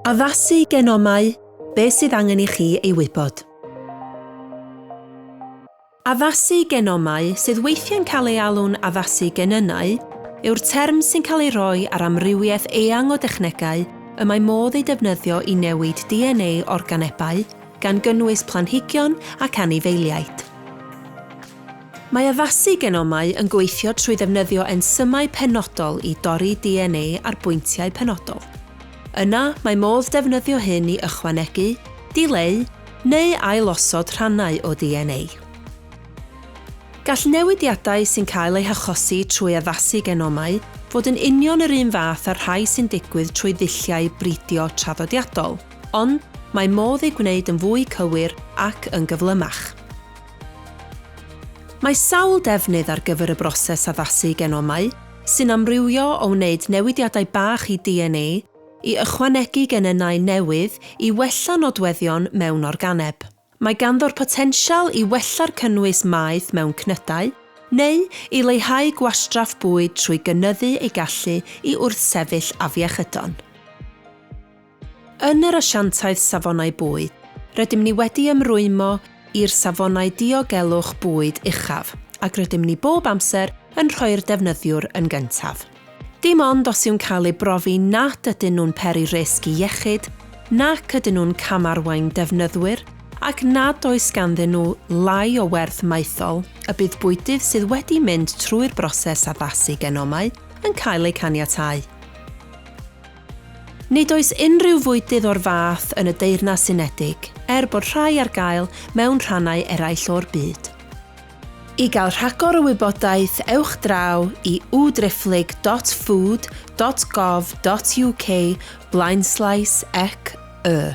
Addasu genomau, beth sydd angen i chi ei wybod. Addasu genomau, sydd weithiau'n cael ei alw'n addasu genynnau, yw'r term sy'n cael ei roi ar amrywiaeth eang o dechnegau y mae modd eu defnyddio i newid DNA organebau, gan gynnwys planhigion ac anifeiliaid. Mae addasu genomau yn gweithio trwy ddefnyddio ensymau penodol i dorri DNA ar bwyntiau penodol. Yna, mae modd defnyddio hyn i ychwanegu, dileu, neu ailosod rhannau o DNA. Gall newidiadau sy'n cael eu hachosi trwy addasu genomau fod yn union yr un fath â'r rhai sy'n digwydd trwy ddulliau bridio traddodiadol, ond mae modd eu gwneud yn fwy cywir ac yn gyflymach. Mae sawl defnydd ar gyfer y broses addasu genomau, sy'n amrywio o wneud newidiadau bach i DNA i ychwanegu genynnau newydd i wella nodweddion mewn organeb. Mae ganddo'r potensial i wella'r cynnwys maeth mewn cnydau, neu i leihau gwastraff bwyd trwy gynyddu ei gallu i wrthsefyll afiechydon. Yn yr Asiantaeth Safonau Bwyd, rydym ni wedi ymrwymo i'r safonau diogelwch bwyd uchaf ac rydym ni bob amser yn rhoi'r defnyddiwr yn gyntaf. Dim ond os yw'n cael ei brofi nad ydyn nhw'n peri risg i iechyd, nac ydyn nhw'n cam-arwain defnyddwyr ac nad oes ganddyn nhw lai o werth maethol y bydd bwydydd sydd wedi mynd trwy'r broses addasu genomau yn cael eu caniatáu. Nid oes unrhyw fwydydd o'r fath yn y Deyrnas Unedig, er bod rhai ar gael mewn rhannau eraill o'r byd. I gael rhagor o wybodaeth, ewch draw i udriphlyg dot food dot gov dot uk blaenslaes ec y.